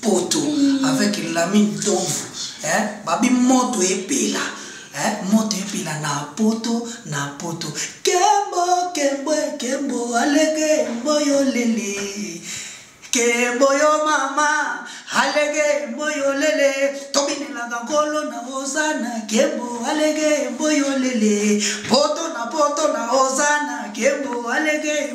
poto mm. avec lami ntomvu eh? babi moto epela eh? moto epela na poto na poto kembo kembo kembo alege mboyo lele kembo yo mama alege mboyo lele tobinelaka nkolo na ozana kembo alege mboyo lele poto na poto na ozana kembo alege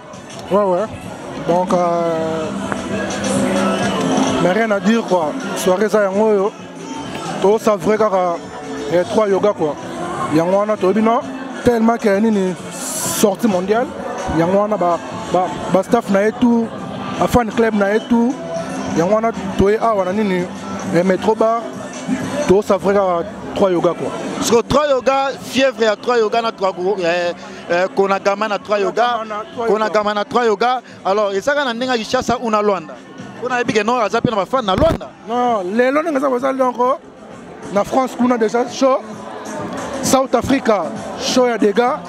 Ouais, ouais. Donc, euh, mais rien à dire quoi. Soirée ça yango yo. To savre kaka les trois yoga quoi. Yango wana to bino tellement que nini sortie mondiale. Yango wana ba ba, ba staff na ye tout, ba fan club na ye tout. Yango wana to ye awa na nini les métro bar. To savre kaka trois yoga quoi. Parce que trois yoga fièvre ya trois yoga na trois eh, Eh, konagama na trois yoga konagama na trois yoga alors ezaka na ndenge ya kinshasa ou na luanda mpo nayebi ke nor aza mpe na bafane na luanda non lelo ndenge eza koza longo na france kuna déjà show south africa show ya dega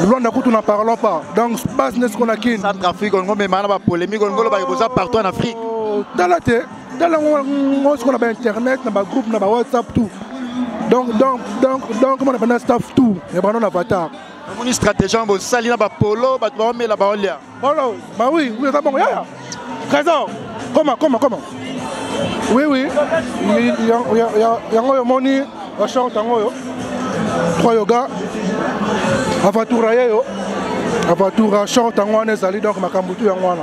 luanda kutu na parlons pas donc base nesi kona kin centrafrique olingo memana bapolémique olingo olobaki boza partout en afrique oh, tala te tala ngo sikoyo na bainternet na bagroupe na bawhatsapp tout donc donc donc donc mona bana staff tout ya bana na avatar namoni stratégie yango bosali na bapolo bato baomela baolia polo bawi eza bongo yaya trésor koma koma koma oui oui yango oyo omoni bashort yango oyo trois yoga avatura ye yo avatura short yango wana ezali donc makambo tu yango wana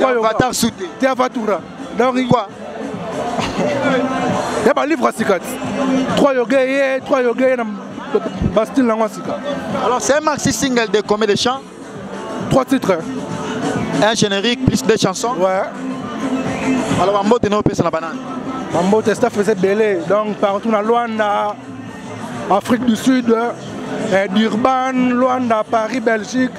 Avatar soute. T'es Avatura. Donc quoi ya balivre ya sika ti trois yoge ye trois yoge ye na bastile nango ya sika alors c'est un maxi single de combien de chants trois titres un générique plus deux chansons ouais alors bambote na opesa na banani bambote staff eza ebele donc partout na luanda afrique du sud eh, durban luanda paris belgique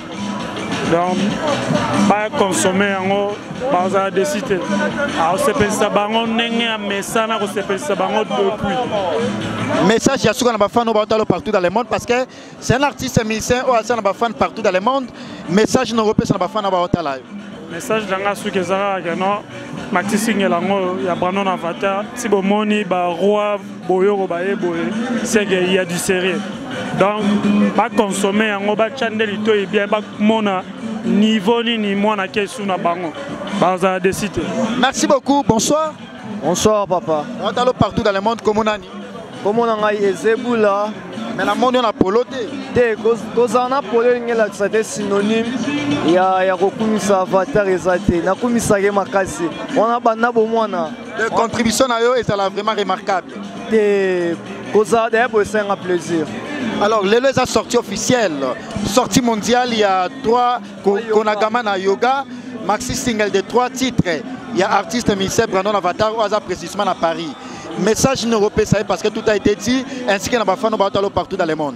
donc bakonsome yango bazala desi te akosepelisa bango ndenge ya mesana akosepelisa bango depuis message ya suka na bafan oyo baotalo partout dans le monde parce que c'est un artiste musicien oyo asala na bafan partout dans le monde message na okopesa na bafan oyo baotala yo message na ngai suki eza kaka keno matisingela yango ya brandon avatar si bomoni baroi boyoko baye boye seke il y a du sérieux donc baconsomme yango batya nde litoi bien bamona niveau nini mwana kesu na bango bazala desi te merci beaucoup bonsoir bonsoir papa otalo partout dans le monde komonani komona ngai ezebula mais namoni yo na polo te te kozala na polo elingi elakisa te synonyme ya, ya kokumisa avatar eza te nakumisaki makasi wana banda bomwana de contribution na yo ezala vraiment remarquable te koza d'ailleurs boye esenga plaisir alors lelo eza sortie officielle sortie mondiale il y a trois konagama na yoga maxi single de trois titres il y a artiste ministère brandon avatar oyo aza précisément na paris message nini okopesa ye parce que tout a été dit ainsi que na bafano baotalo partout dans le monde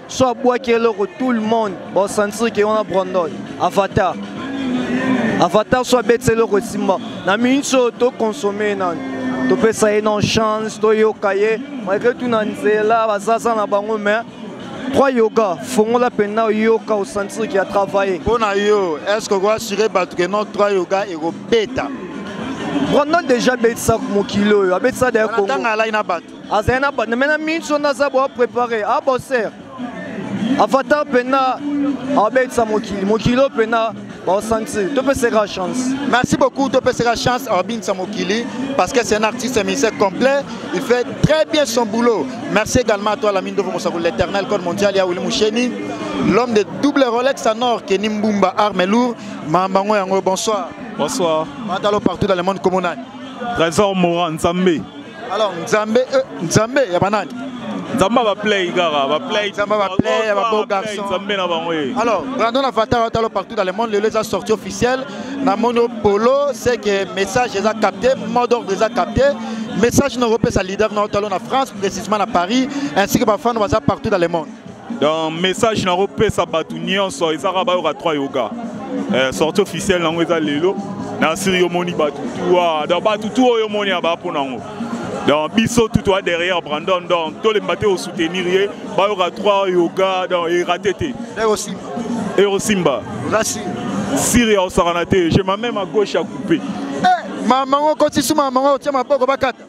so abwaki eloko tout le monde baosentir ke wana brandon avatar avatar so abetisa eloko esimba na minute oyo tokonsome nani topesa ye non chance toyoka ye malgre tout na nzela bazaza na bango mais trois yoga fongola mpenza oyoka osentir ke atravaille mpo na yo est ce que okoasure bato ke non trois yoga ekobeta brandon déjà abetisa mokili oyo abetisa dayatanga alai na bato azali na banda me na mingi so naza boa prépare a ah, boser afata mpena abetisa mokili mokili oyo mpena baosanti topeseka chance merci beaucoup topeseka chance abinisa mokili parce que c'est un artiste musicien complet il fait très bien son boulot merci également à toi la mine de mosaku l'éternel code mondial ya wili musheni l'homme de double rolex en or keni mbumba arme lourd mambango yango bonsoir bonsoir matalo partout dans le monde komonani trésor moran nzambe alors nzambe euh, nzambe ya banani nzambe abaplay kaka baplay nzambe abaplay ya babo garçon nzambe na bango ye alors brandon avatar otalo partout dans le monde lelo eza sortie officielle na moni polo c'est que message eza capté mot d'ordre eza capté message na kopesa leader na otalo na france précisément na paris ainsi que bafano baza partout dans le monde donc message na kopesa bato nyonso ezaka bayoka 3 yoga eh, sorti officielle nango eza lelo na siri yo omoni bato tu wa donc bato tu oyo omoni ya baa mpo nango donc biso tout toi derrière brandon donc tolemba te osoutenir ye bayoka 3 yoga donc erate te erosimba siri ya osakana te je ma meme à gauche ya coupe eh, mama ngo kotisi mama ngo otia maboko bakata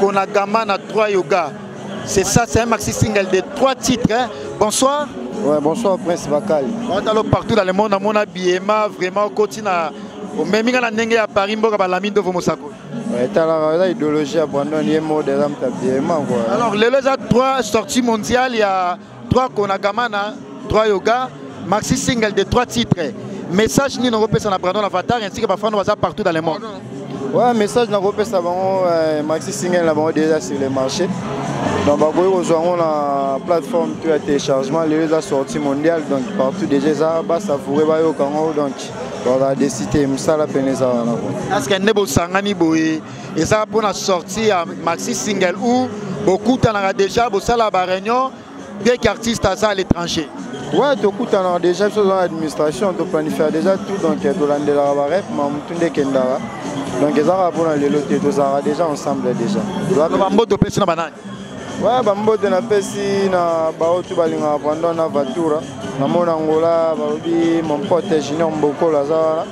Konagama na trois yoga. C'est ça, c'est un maxi single de trois titres. Hein. Bonsoir. Ouais, bonsoir Prince Bakali. Watalo partout dans le monde, à mon habillement, vraiment, continue à. omemi nga na ndenge ya paris mboka balami ndovo mosako etalaka eza idéologie ya brandon ye mode eza mtabiemango alors lelo eza 3 sortie mondiale ya 3 konagamana 3 yoga maxi single de 3 titres message nini okopesa na brandon avatar ainsi que bafano baza partout dans le monde ouais message nakopesa bango euh, maxi single na bango déjà sur le marché donc bakoki kozwa yango na plateforme to ya téléchargement lelo eza sorti mondial donc partout déjà eza basavoure bayoka yango donc bazala desite mosala pene eza wana est ce que nde bosangani boye eza pona sortie ya maxi single ou bokutanaka déjà bosala ba réunion dès qu'artiste aza à l'étranger ouais tokutanaka déjà biso oza na administration toplanifia déjà tout donc tolandelaka barep ma motu nde ekendaka donc ezaka mpona lelo te tozalaka déjà ensemble déjà bamboto opesi na banani ouais bambote napesi na baoyo tu balingaka brandon na vatura na mona angola balobi mon pote junior mbokolo aza wana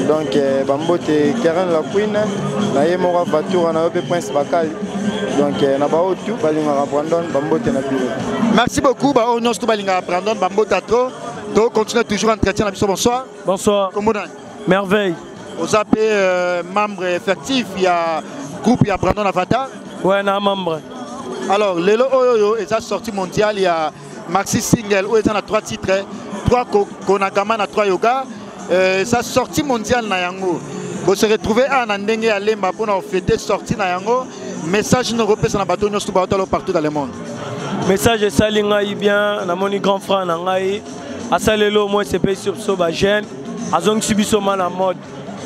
donc eh, bambote karen la queen na ye moko avatura na yo mpe prince bakali donc eh, na baoyo tu balingaka brandon bambote na bino merci beaucoup baoyo nyonso tu balingaka brandon bambota trop to continue toujours entretien na biso bonsoir bonsoir kombo nani merveille oza mpe euh, membre effectif ya groupe ya brandon avatar ouais na membre alors lelo oyo oyo eza sortie mondiale ya maxi single oyo eza na 3 titre 3 konagama na 3 yoga euh, eza euh, sortie mondiale na yango bose retrouve awa na ndenge ya lemba mpona ofete sortie na yango message noko opesa na bato nyonso baotalo partout dans le monde message esali ngai bien namoni grand frère na ngai asaleli au moins sepesi biso bajeune azongisi biso ma na mode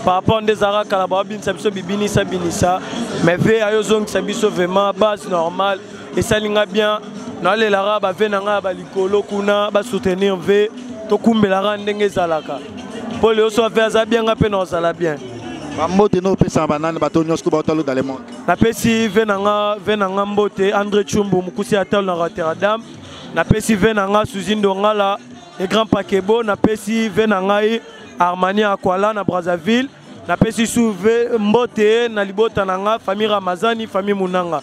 par rapport nde ezalaka kala baobinisa biso bibinisa binisa mais ve ayozongisa biso vraiment base normale esali nga bien nalelaka bave na ngai ya balikolo kuna basoutenir ve tokumbelaka ndenge ezalaka mpo leo so ave aza bien nga mpe naozala bien bambote no opesaka banani bato nyonso baotalo dans le monde napesi ve na nga ve na nga mbote andré chumbu mokusi ya talo na rotterdam napesi ve na nga suzi ndongala le grand pakebo napesi ve na ngai armani akwala na brazzaville napesi su ve mbote na libota na nga famille ramazani famille munanga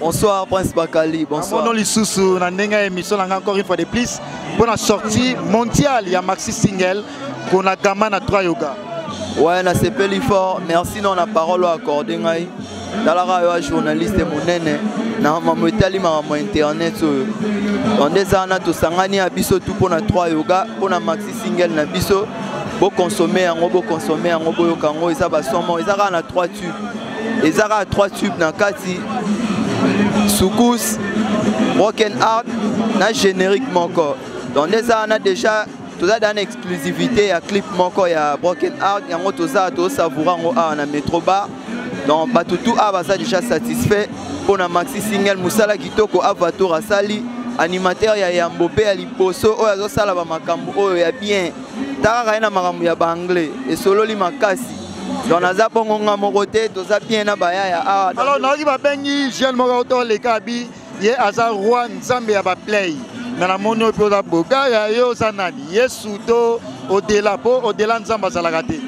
Bonsoir Prince Bakali, bonsoir. Amono lisusu na ndenge ya émission na nga encore une fois de plus pour la sortie mondiale ya Maxi Single kona gama na 3 yoga. Ouais, na sepeli fort. Merci non na parole accordée ngai. Dalara yo journaliste monene na mamu etali makambo internet oyo. Donc des ana tosangani ya biso tout pona 3 yoga pona Maxi Single na biso bo consommer yango bo consommer yango boyoka yango eza ba somo eza kaka na 3 tubes eza kaka 3 tube na kati soukous broken art na générique moko donc nde eza wana déjà toza da na exclusivité ya clip moko ya broken art yango toza tosavoura yango awa na metro bar donc bato tu awa baza déjà satisfait mpo na maxi single mosala kitoko avator asali animateur ya yambo mpe ya liboso oyo azosala bamakambo oyo ya bien takaka ye na makambo ya baanglais esololi makasi donc naza bongo nga moko te toza bien na bayaya awa ah, alors nayoki babengi jeune moko to leka bi ye aza roi nzambe ya baplay me namoni oyo mpe oza bogaya ye oza nani yesu to odela mpo odela nzambe azalaka te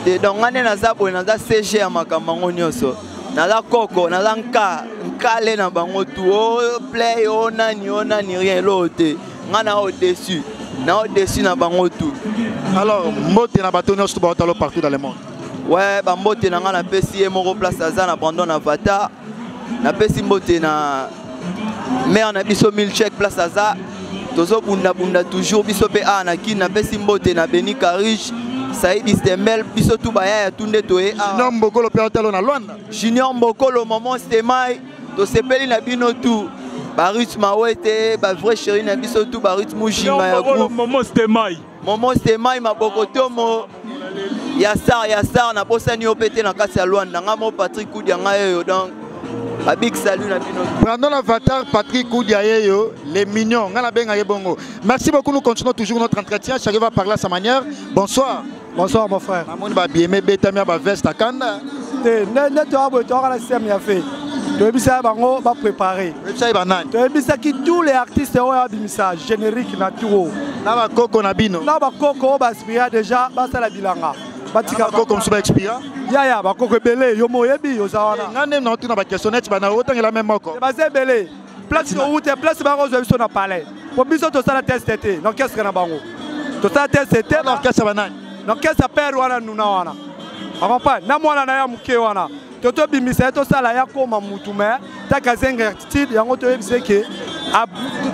te donc nga nde naza boye naza cg ya makambo yango nyonso naza koko naza nka nkale na bango tu o oh, play o oh, nani o oh, nani rien eloo te nga na o dessus na o dessus na bango tout alors mbote na bato nyonso ba otalo partout dans le monde ouais ba mbote na nga na pesi ye moko place aza na Brandon Avatar na pesi mbote na mère na biso milchek place aza tozobundabunda toujours biso mpe awa na kini napesi mbote na beni carige saidi stembel biso tu baya ya tunde toye awa junior mbokolo mpe atalo na lwanda junior mbokolo maman stemai tosepeli na bino tu barut mawete bavrai cheri na biso tu barut mujinga ya momo stemai momo stemai mabokotomo ya sar ya sar nabosani yo mpe te na kati ya lwanda ngai mo patrik kudia ngai oyo donc babik salut na bino brandon avatar patrik kudia ye yo les mignon ngai nabenga ye bongo merci beaucoup nous continuons toujours notre entretien chacun va parler à sa manière bonsoir Bonsoir mon frère. Namoni ba bieme betami ya ba veste akanda. Te nde to abo to kana système ya fait. toyebisaki bango baprépare toyebisaki tous les artistes oyo abimisa générique na tour na bakoko na bino na bakoko oyo baaspira déjà basala bilanga batika bakoko mosusu baexpira yaya bakoko ebele yo moyebi oza wana nga nde na otuna bakestion neti bana otangela meme moko baza ebele place towute place bakozwa biso na palais po biso tosala teste te na orchestre na bango tosala teste te na orchestre banani na orchestre ya père wana nuna wana akompane na mwana na ya moke wana to tobimisa ye tosala ye akoma mutu me taka zenga attitude yango toyebisa eke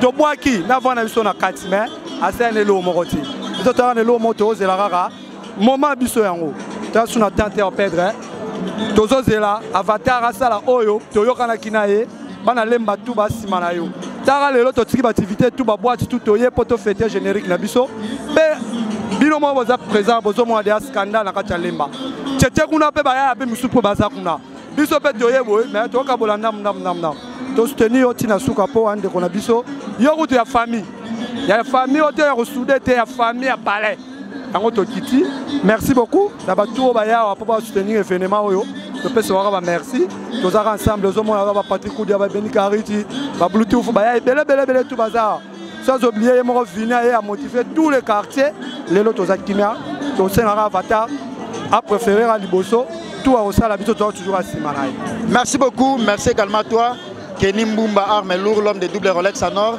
tobwaki na vana biso na kati me asala na eloo moko te biso toyaka na eloo moko tokozela kaka moment biso yango ta suna tante ya pedre hein? tozozela avatar asala oyo toyokanaki na ye bana lemba tu basima na yo tara lelo totiki bativité tu baboite tu toye mpo tofete générique na biso mpe bino moko boza présent bozomona deya scandale na kati ya lemba tete kuna mpe bayaya mpe mosusu mpo baza kuna biso mpe toye boye me tokokabola ndamu ndamu ndamu ndamu tosuteni yo ntina suka mpo andeko na biso yo kutu ya famille ya famille oyo te ya kosude te ya famille ya palais yango tokiti merci beaucoup na bato oyo bayawa mpo basoutenir evenement oyo topesa waka bamerci tozaka ensemble ozomona ba bapatrik kudia babeni kariti babluetooth baya ebele ebele ebele tu baza sans oblie ye moko vini aye amotive tous les quartiers lelo toza kimia tosengaka avatar apréférera liboso tout akosala biso toza toujours asima na ye merci beaucoup merci également toi Kenny Mbumba, arme lourd, l'homme des doubles Rolex à Nord.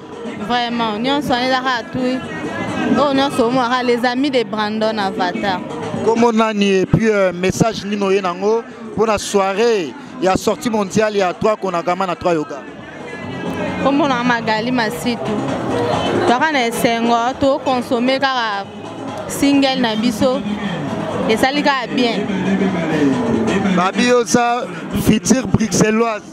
vraiment nyonso wana eza kaka tui oyo oh, nyonso omonaka les amis de brandon avatar nkombo nani epuis euh, message nini oye nango mpo na soirée ya sortie mondiale ya 3 konagama na 3 yoga nkombo nanga magali masitu toaka na esengo tokonsome kaka single na biso esali kaka bien babi oza future bruxelloise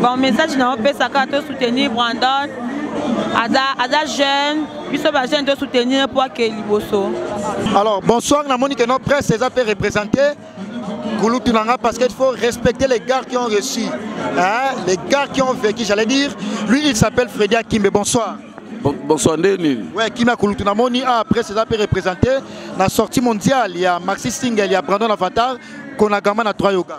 bon message na opesaka to soutenir brandon aza, aza jeune biso bajeune to soutenir mpo ake liboso alors bonsoir namoni ke no presse eza mpe représente kulutu na nga parce qu'il faut respecter les gars qui ont reçu hein? les gars qui ont vécu j'allais dire lui il s'appelle Freddy Akimbe bonsoir bonsoir nde nini we kimia kulutu namoni a ah, presse eza mpe représente na sortie mondiale ya maxi single ya brandon avatar konagama na 3 yoga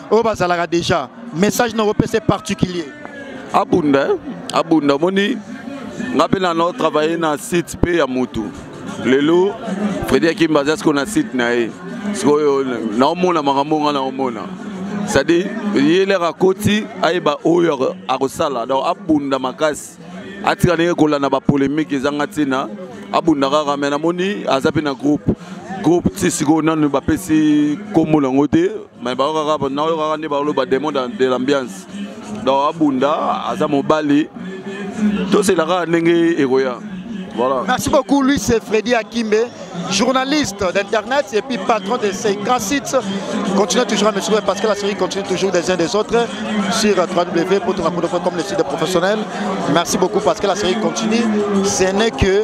oyo bazalaka déjà message na kopesa particulier abunda eh? abunda omoni nga mpe na nao travaille na site mpe ya motu lelo fredi akimba aza sikoyo na site na ye sikoyo naomona makambo nga naomona c'est-à-dire ye lere akoti ayeba oyo akosala donc abunda makasi atika ndenge kolanda bapolémike ezanga ntina abunda kaka me namoni aza mpe na groupe groupe ti sikoyo nanu bapesi nkombo nango te mais baokaka naoyokaka nde baoloba demon de l'ambiance donc abunda aza mobali tosela kaka ndenge ekoya Voilà. Merci beaucoup, Luis et Freddy Akimbe, journaliste d'Internet et puis patron de ces grands sites. Continuez toujours à me suivre parce que la série continue toujours des uns des autres sur www.tonakodo.com, le site des professionnels. Merci beaucoup parce que la série continue. Ce n'est que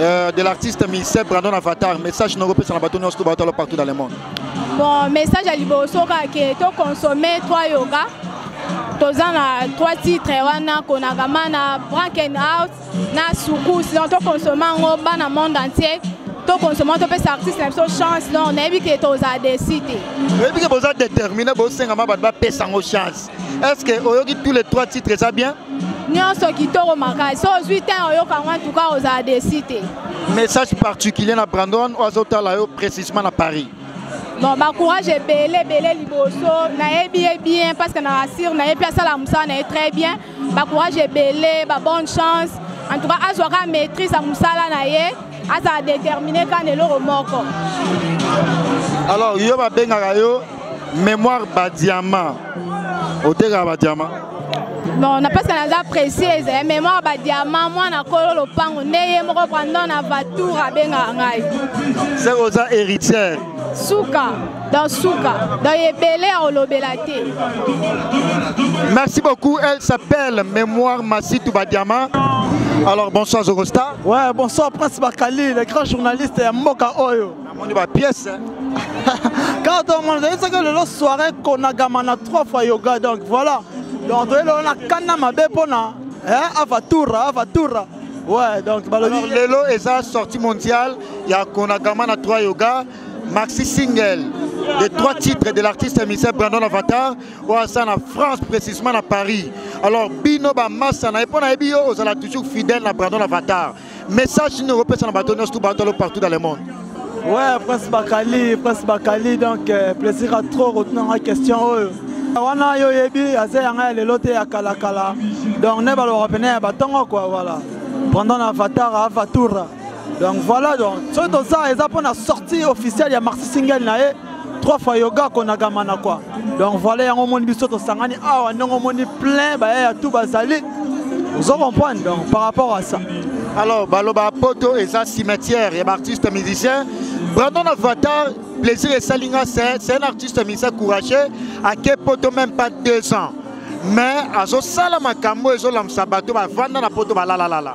Euh, de l'artiste Michel Brandon Avatar, message nous repose sur la bâton partout dans le monde. Bon, message à Liboso, que tu consommes trois yoga, toza na trois titres wana konagama na branken out na sukus donc tokonsoma yango bana monde entier tokonsoma topesa artiste na biso chance donc nayebi ke toza desi te oyebi ke boza détermine bosengama bato bapesa yango chance est ce que oyoki tous les trois titres eza bien nyonso kitoko makasi so ozwi te oyoka yango antuka ozala desi te message particulier na brandon oyo azotala yo précisement na paris bon bacourage ebele ebele liboso nayebi ye bien parce que na rassure na ye mpe asala mosala na ye très bien bacourage ebele babonne chance en tout cas azwa kaka maîtrise ya mosala na ye azala détermine kaka na eloko moko alors yo babengaka yo Mémoire ba diamant. Oteka ba diamant. Non, na pesa naza précise, eh, mémoire ba diamant mwana kolo lopango nde ye moko prendre na voiture abenga ngai. C'est oza héritière. Suka, dans suka, dans ebele ya olobela te. Merci beaucoup, elle s'appelle Mémoire Massitou ba diamant. Alors bonsoir Zogosta. Ouais, bonsoir Prince Bakali, le grand journaliste ya Mboka Oyo. namoni ba pièce kaka tomona toyesaka lelo soirée konagama na trois fois yoga donc voilà donc toye lelo na kana mabe mpona eh, avatura avatura ouais donc balobi lelo eza sortie mondiale ya konagama na trois yoga maxi single des trois titres de l'artiste émissaire Brandon Avatar oyo asa na France précisément na Paris alors bino bamasa na ye mpo nayebi yo ozala toujours fidèle na Brandon Avatar message nini okopesa na bato nyonso tu batolo partout dans le monde ouais prince bakali prince bakali donc euh, plaisir a trop kotunanga question oyo wana yo oyebi aza yanga ya lelo te ya kalakala donc ne balobaka pene ya batongo kua voilà pendant na vatara avatura donc voilà donc soki toza eza mpona sortie officielle ya marsi singel na ye trois fois yoga konaka mana kwa donc voilà yango omoni biso tosangani awa ndenge omoni plein bayaya tout bazali ozo comprendre donc par rapport à ça alors baloba poto eza cimetière ya baartiste musicien brandon avatar plaisir esali nga c'est un artiste musicien courageux ake poto même pas deux ans mais azosala makambo ezolamusa bato bavanda na poto balalalala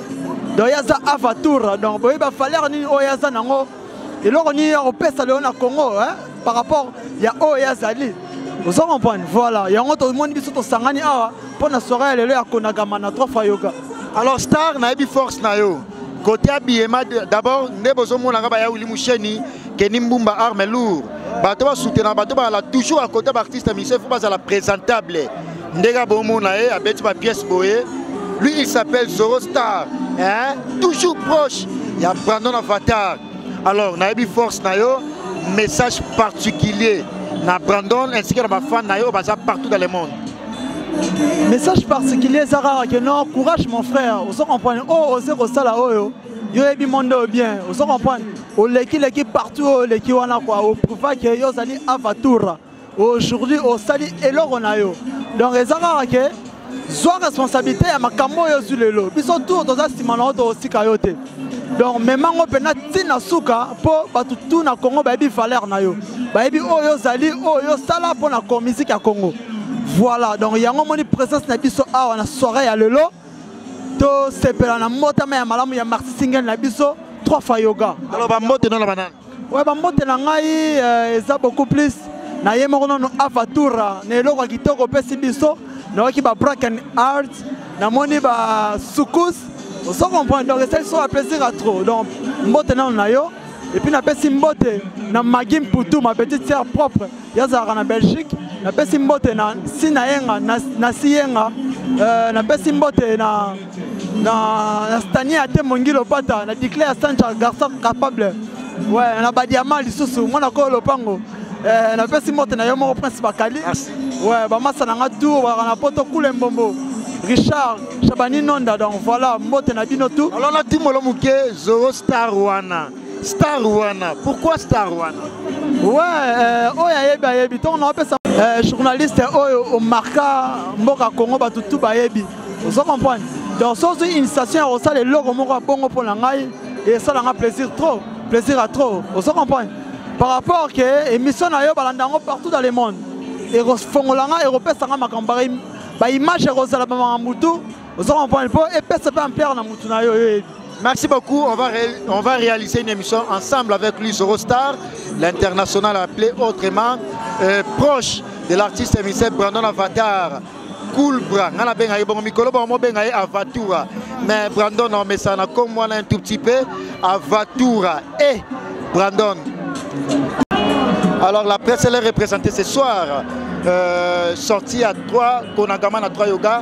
donc ye aza avatur donc boyebi bavaleur nini oyo ye aza nango eloko nini ya kopesa lelo na congo par rapport ya oyo ye azali ozo comprendre voilà yango tomoni biso tosangani awa mpo na soirée ya lelo ya konagama na trois fois yoga alors star nayebi force na yo kote ya biyema d'abord nde bozomonaka baya wili musheni keni mbumba arme lour bato basoutenaka bato bazala toujours à côté baartiste musicien fo bazala présentable ndenge abomona ye abeti ba pièce boye lui il s'appelle zoro star hein? toujours proche ya brandon avatar alors nayebi force na yo message particulier na brandon ainsi que na bafan na yo baza partout dans le monde message particulier eza kaka ke non courage mon frère ozo comprendre oyo oh, oze kosala oyo yo oyebi monde oyo bien ozo comprendre olekileki partout oyo oleki wana kua oprouvake yo ozali avatura aujourd'hui osali eloko na yo donc eza kaka ke zwa responsabilité ya makambo oyo ozwi lelo biso tour toza nsima na yo tokosika yo te donc mema yango mpenza ti na suka mpo bato tu na congo bayebi valeur na yo bayebi oyo ozali oyo osala mpo na miziki ya congo voilà donc yango omoni présence na biso awa na soirée ya lelo tosepela na mbotama ya malamu ya marti singel na biso 3 fois yoga aloba mbote nona banana oyo bambote na ngai euh, eza beaucoup plus na ye moko nono afatura na eloko ya kitoko opesi biso nayoki ba bracken art namoni ba sukus ozo comprendre donc esali so baplaisir ya trop donc mbote nano na yo epuis napesi mbote na magi mputu ma petite sœur propre ye azalaka na belgique napesi mbote na si na yenga na si yenga euh, napesi mbote na na stanie ate mongi lopata na diclare sancha garçon capable ouais na badiama lisusu mwana koyo lopango euh, napesi mbote na yo moko prince bakali ouais bamasa na nga tour balaka na poto kule mbombo richard shabani nonda donc voilà mbote na bino tout alors na timolo moke zoro star wana star wana pourquoi star wana ouais euh, oyo ayebi ayebi ntongo naopesa euh, journaliste oyo omarka mboka congo bato tu bayebi ozo comprendre donc so ozwi initiation ya kosala eloko moko ya bongo mpo na ngai esala nga plaisir trop plaisir ya trop ozo comprendre par rapport ke émission na yo balanda yango partout dans le monde ekofongola nga ekopesa nga makambo baimage ekozala bamakambo tu ozo comprendre mpo epesa mpe ampere na motu na yo oyebi Merci beaucoup. On va, ré, on va réaliser une émission ensemble avec lui, Zorostar, l'international appelé autrement, euh, proche de l'artiste émissaire Brandon Avatar. Cool Bra, ngana benga yebongo mikolo ba mo benga ye Avatura. Mais Brandon on met ça na comme moi un tout petit peu Avatura et Brandon. Alors la presse elle est représentée ce soir euh, sortie à 3 Konagama na 3 yoga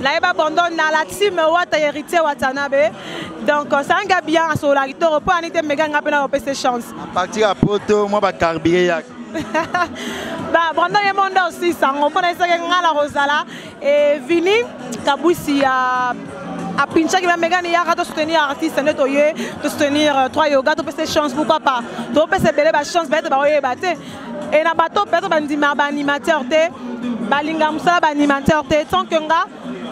nayeba bondo na la team wata héritier watanabe donc osanga bien asololaki toro mpo ani te mega nga mpe nakopesa chance à partir ya poto mwa bacarbure yaka ba brandon ye monde aussi sango mpo nayesaki ngai na kozala e vini kabusi ya apinchaki bamegani yaka tosoutenir artiste nde toye tosoutenir euh, trois yoga topesa chance pourquoi pas topesa ebele bachance bayete baoyeba te e na bato peut-être bandimaka baanimateur te balinga mosala baanimateur te tant que nga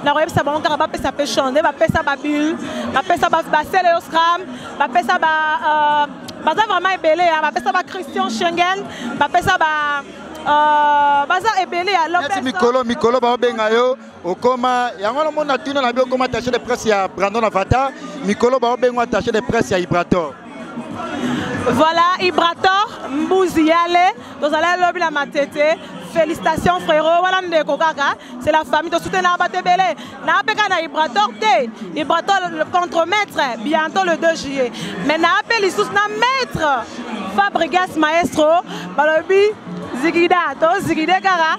nakoyebisa bango kaka bapesa mpe chance nde bapesa babule bapesa basele yo scram bapesa ba euh, baza vraiment ebele ya bapesa ba christian schengen bapesa ba euh, baza ebele ya lopes mikolo mikolo baobenga yo okoma yango wana omona tuna na bi okoma attaché de presse ya brandon avata mikolo baobengo attaché de presse ya ibrator voilà ibrator mbuzi yale tozalaki lobi na matete félicitations frérot wana ndeko kaka c'est la famille tosutenaka bato ebele naapeka na ibrator te ibrator contre maître bientôt le 2 juillet mais naape lisusu na maître fabrigas maestro balobi zigida tozigide kaka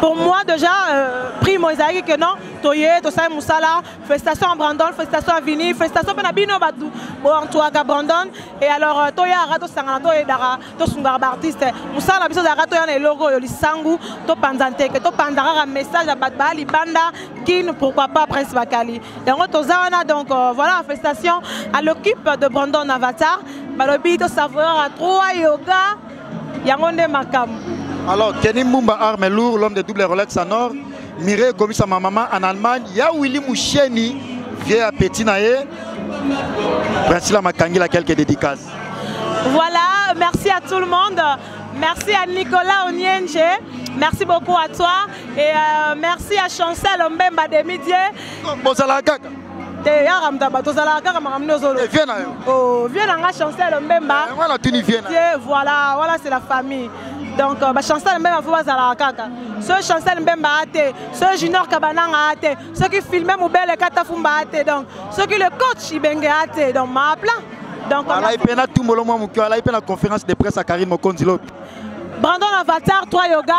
Pour moi déjà, euh, primo ezalaki que non, toye, tosali musala, félicitations à Brandon, félicitations à Vini, félicitations mpe na bino bato boantuaka Brandon. Et alors euh, toyaka tosangana toyedaka tosungaka baartiste mosala na biso ezalaka toya na eloko oyo lisangu topanza nteke topanza kaka message ya bato baya libanda kin pourquoi pas prince bakali yango toza wana donc euh, voilà félicitations à l'équipe de Brandon Avatar balobi tosavouraka trois yoga yango nde makambo alors Kenny Mumba arme lourd l'homme de double Rolex en or Mireille ekomisa ma maman en Allemagne ya Willy Musheni vieux ya petit na ye Priscilla Makangila quelques dédicaces voilà merci à tout le monde merci à Nicolas Onienje merci beaucoup à toi et euh, merci à Chancel Mbemba Demidier bozala kaka te yaka moto ya bato ozalaka kaka makambo nde ozolvie eh, na yo oh, vie na nga chancel mbemba eh, wana tuni vie na te voilà wana c'est la famille donc euh, bachancel mbemba fo bazalaka kaka soki chancel mbemba a te soki junior kabananga a te soki filme mobele katafumba a te donc soki le coach ibenge a te donc maaplan donc alai mpe na tumbolo mwa moke alai mpe na conférence de presse ya karine mokonzi lobi brandon avatar 3 yoga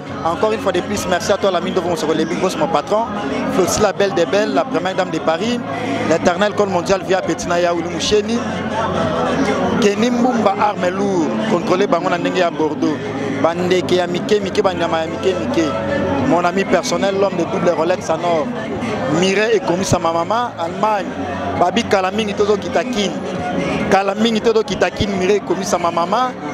Encore une fois de plus, merci à toi, la mine de Vonsoko Lebi, Grosse, mon patron, Flossi, la belle des belles, la première dame de Paris, l'éternel col mondial via Petina Yaoulou Moucheni, Kenny Mbumba Armelou, contrôlé par mon anenge à Bordeaux, Bandeke ya Mike, Mike, Banyama ya Mike, Mike, mon ami personnel, l'homme de double Rolex à Nord, Mireille et commis à ma maman, Allemagne, Babi Kalaming, Tozo Kitakin, Kalaming, Tozo Kitakin, Mireille et commis à ma maman,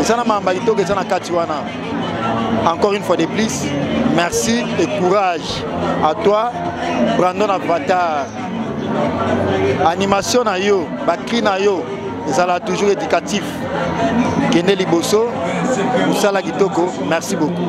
eza na mamba kitoko eza na kati wana encore une fois de plus merci et courage à toi brandon avatar animation na yo bacri na yo ezala toujours éducatif kende liboso mosala kitoko merci beaucoup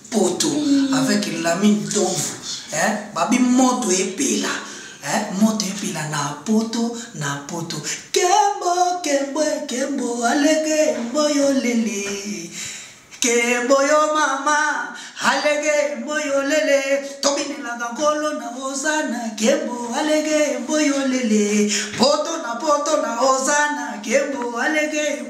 poto mm. avec lami ntomvu eh? babi moto epela eh? moto epela na poto na poto kembo kembo kembo alege mboyo lele kembo yo mama alege mboyo lele tobinelaka nkolo na ozana kembo alege mboyo lele poto na poto na ozana kembo alege